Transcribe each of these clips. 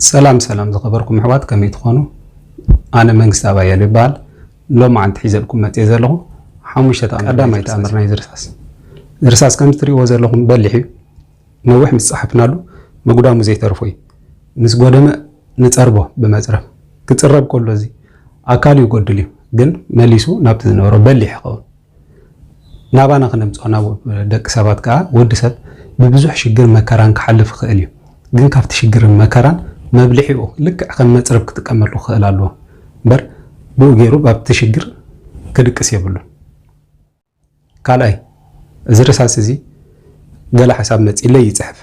ሰላም ሰላም ዝኸበርኩም ኣሕዋት ከመይ ትኾኑ ኣነ መንግስታብ ኣያሌው ይበሃል ሎማዓንቲ ሒዘልኩም መፅየ ዘለኹ ሓሙሽተ ተኣምር ቀዳማይ ተኣምር ናይዚ ርሳስ እዚ ርሳስ ከምዚ ትሪእዎ ዘለኹም በሊሕ እዩ ነዊሕ ምስ ፀሓፍናሉ መጉዳሙ ዘይተርፎ እዩ ምስ ጎደመ ንፀርቦ ብመፅረብ ክፅረብ ከሎ እዚ ኣካሉ ይጎድል እዩ ግን መሊሱ ናብቲ ዝነበሮ በሊሕ ይኸውን ናባና ክነምጽኦ ናብ ደቂ ሰባት ከኣ ወዲ ሰብ ብብዙሕ ሽግር መከራን ክሓልፍ ይኽእል እዩ ግን ካብቲ ሽግርን መከራን መብልዒኡ ልክዕ ከም መጽረብ ክጥቀመሉ ክኽእል ኣለዎ እምበር ብኡ ጌሩ ባብቲ ሽግር ክድቅስ የብሉን ካልኣይ እዚ ርሳስ እዚ ገለ ሓሳብ መጺለይ ይጽሕፍ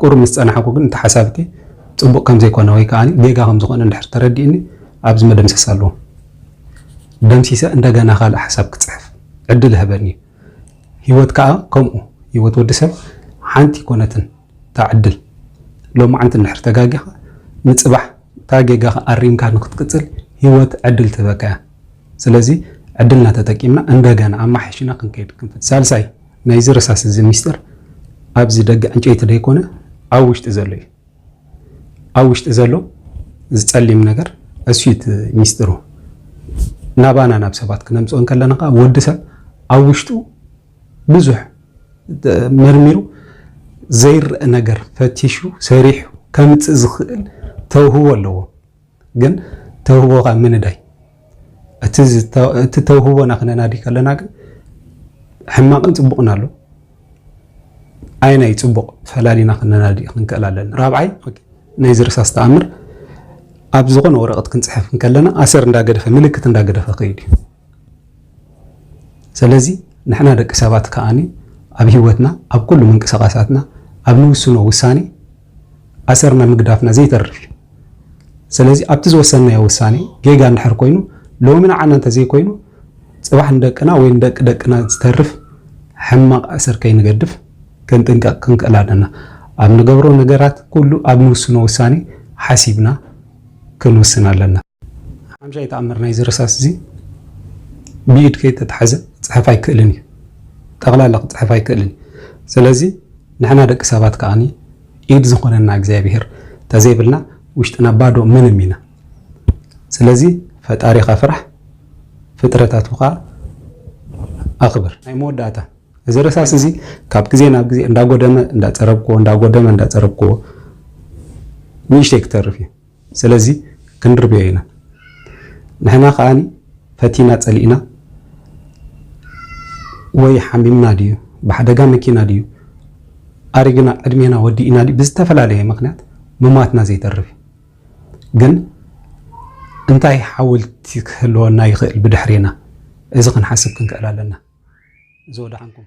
ቁሩብ ምስ ጸናሕኩ ግን እቲ ሓሳብኪ ጽቡቕ ከም ዘይኮነ ወይ ከኣ ጌጋ ከም ዝኾነ እንድሕር ተረዲእኒ ኣብዚ መደምሰስ ኣለዎ ደምሲሰ እንደገና ካልእ ሓሳብ ክጽሕፍ ዕድል እህበኒ እዩ። ህይወት ከኣ ከምኡ ህይወት ወዲ ሰብ ሓንቲ ኣይኮነትን እታ ዕድል ሎማዕንቲ እንድሕር ተጋጊኻ ንጽባሕ እታ ጌጋኻ ኣሪምካ ንኽትቅጽል ህይወት ዕድል ትህበካ እያ። ስለዚ ዕድልና ተጠቂምና እንደገና ኣማሓይሽና ክንከይድ ክንፍት ሳልሳይ ናይዚ ርሳስ እዚ ሚስጥር ኣብዚ ደገ ዕንጨይቲ ደይኮነ ኣብ ውሽጢ ዘሎ እዩ ኣብ ውሽጢ ዘሎ እዚ ጸሊም ነገር እሱዩት ሚስጥሩ ናባና ናብ ሰባት ክነምፅኦ እንከለና ከዓ ወዲ ሰብ ኣብ ውሽጡ ብዙሕ መርሚሩ ዘይረእ ነገር ፈቲሹ ሰሪሑ ከምፅእ ዝኽእል ተውህቦ ኣለዎ ግን ተውህቦ ካብ ምንዳይ እቲ ተውህቦና ክነናዲ ከለና ግን ሕማቅን ፅቡቅን ኣሎ ኣየናይ ፅቡቅ ፈላሊና ክነናዲ ክንክእል ኣለን ራብዓይ ናይ ዝርሳስ ተኣምር ኣብ ዝኾነ ወረቀት ክንፅሕፍ ከለና ኣሰር እንዳገደፈ ምልክት እንዳገደፈ ከይድ እዩ ሰለዚ ንሕና ደቂ ሰባት ከኣ ኣብ ህይወትና ኣብ ኩሉ ምንቅስቃሳትና ኣብ ንውስኖ ውሳኔ ኣሰርና ምግዳፍና ዘይተርፍ እዩ። ሰለዚ ኣብቲ ዝወሰንናዮ ውሳኔ ጌጋ እንድሕር ኮይኑ ሎሚ ንዓና እንተዘይኮይኑ ጽባሕ ንደቅና ወይ ንደቂ ደቅና ዝተርፍ ሕማቕ ኣሰር ከይንገድፍ ክንጥንቀቕ ክንክእል ኣለና። ኣብ ንገብሮ ነገራት ኩሉ ኣብ ንውስኖ ውሳኔ ሓሲብና ክንውስን ኣለና። ሓምሻይ ተኣምር ናይዚ ርሳስ እዚ ብኢድ ከይተታሕዘ ክጽሕፍ ኣይክእልን እዩ። ጠቕላላ ክጽሕፍ ኣይክእልን እዩ። ስለዚ ንሕና ደቂ ሰባት ከኣ ኢድ ዝኾነና እግዚኣብሄር ተዘይብልና ውሽጥና ባዶ ምንም ኢና። ስለዚ ፈጣሪኻ ፍራሕ ፍጥረታቱ ከኣ ኣኽብር። ናይ መወዳእታ እዚ ረሳስ እዚ ካብ ግዜ ናብ ግዜ እንዳጎደመ እንዳጸረብክዎ እንዳጎደመ እንዳጸረብክዎ ንእሽተይ ክተርፍ እዩ። ስለዚ ክንርብዮ ኢና። ንሕና ከኣ ፈቲና ጸሊእና ወይ ሓሚምና ድዩ ብሓደጋ መኪና ድዩ ኣሪግና ዕድሜና ወዲእና ድዩ ብዝተፈላለየ ምክንያት ምሟትና ዘይተርፍ እዩ። ግን እንታይ ሓውልቲ ክህልወና ይኽእል ብድሕሬና? እዚ ክንሓስብ ክንክእል ኣለና። እዚ ወደሓንኩም።